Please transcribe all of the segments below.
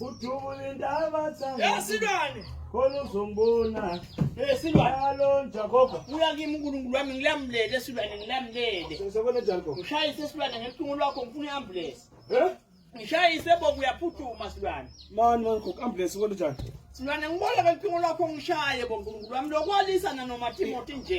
kudubula indaba esilwane khona uzongibona esilwane alo njakoba uya kimi unkulunkulu wami ngilamulele esilwane ngilamulele sesebona jakoba ngishayise esilwane ngelucingo lwakho ngifuna i-ambulensi ngishayise boku uyaphuthuma silwane mani mani khokho ambulensi ubona njani silwane ngibona ngelucingo lwakho ngishaye bonkulunkulu wami lokwalisana nomathimothi nje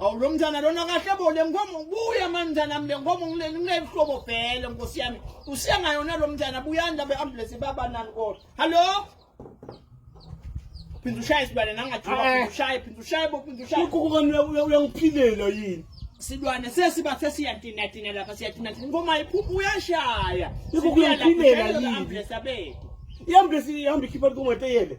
Awu lo mntana lona kahle bo le ngoma buya mantana mle ngoma ngileni nginebuhlobo vele nkosi yami usiya ngayona lo mntana buyanda be ambulance baba nani kodwa hallo phinda ushaye sibane nangathula Eh. phinda ushaye phinda ushaye bo phinda ushaye uqukukani uyangiphilela yini silwane sesiba sesiyatina tina lapha siyatina tina ngoma iphuphu uyashaya Yebo, kuyangiphilela yini? ambulance abethu ihambulesi ihamba ikhipha likongateyele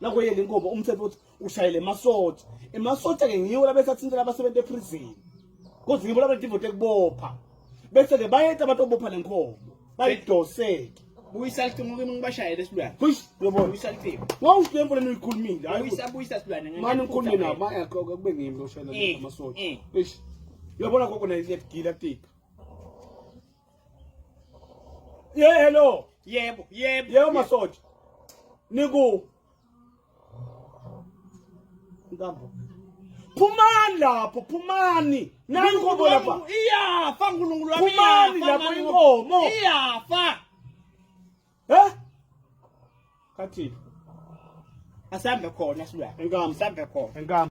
nako yena inkomo umthetho ukuthi ushayele emasotsha emasotsha ke ngiwo labesathintela abasebenzi eprison kodwa ngibo labadivote kubopha bese ke bayeta abantu obopha lenkomo bayidoseke buyisa lithimo kimi ngibashayele esilwane bush uyabona buyisa lithimo wow lembo lenu ikhulumile hayi buyisa buyisa silwane mani ngikhulume nabo maya kube ngimi loshayela eh, emasotsha eh. bush uyabona gogo nayo iyagila tika Ye hello. Yebo, yebo. Yebo masoja. Niku. Nkambo. Phumani lapho, phumani. Nani inkomo lapha. Iyafa uNkulunkulu wami. Phumani lapho inkomo. Iyafa. Eh? Kathini? Asambe khona silwa. Inkambo. Asambe khona. Inkambo.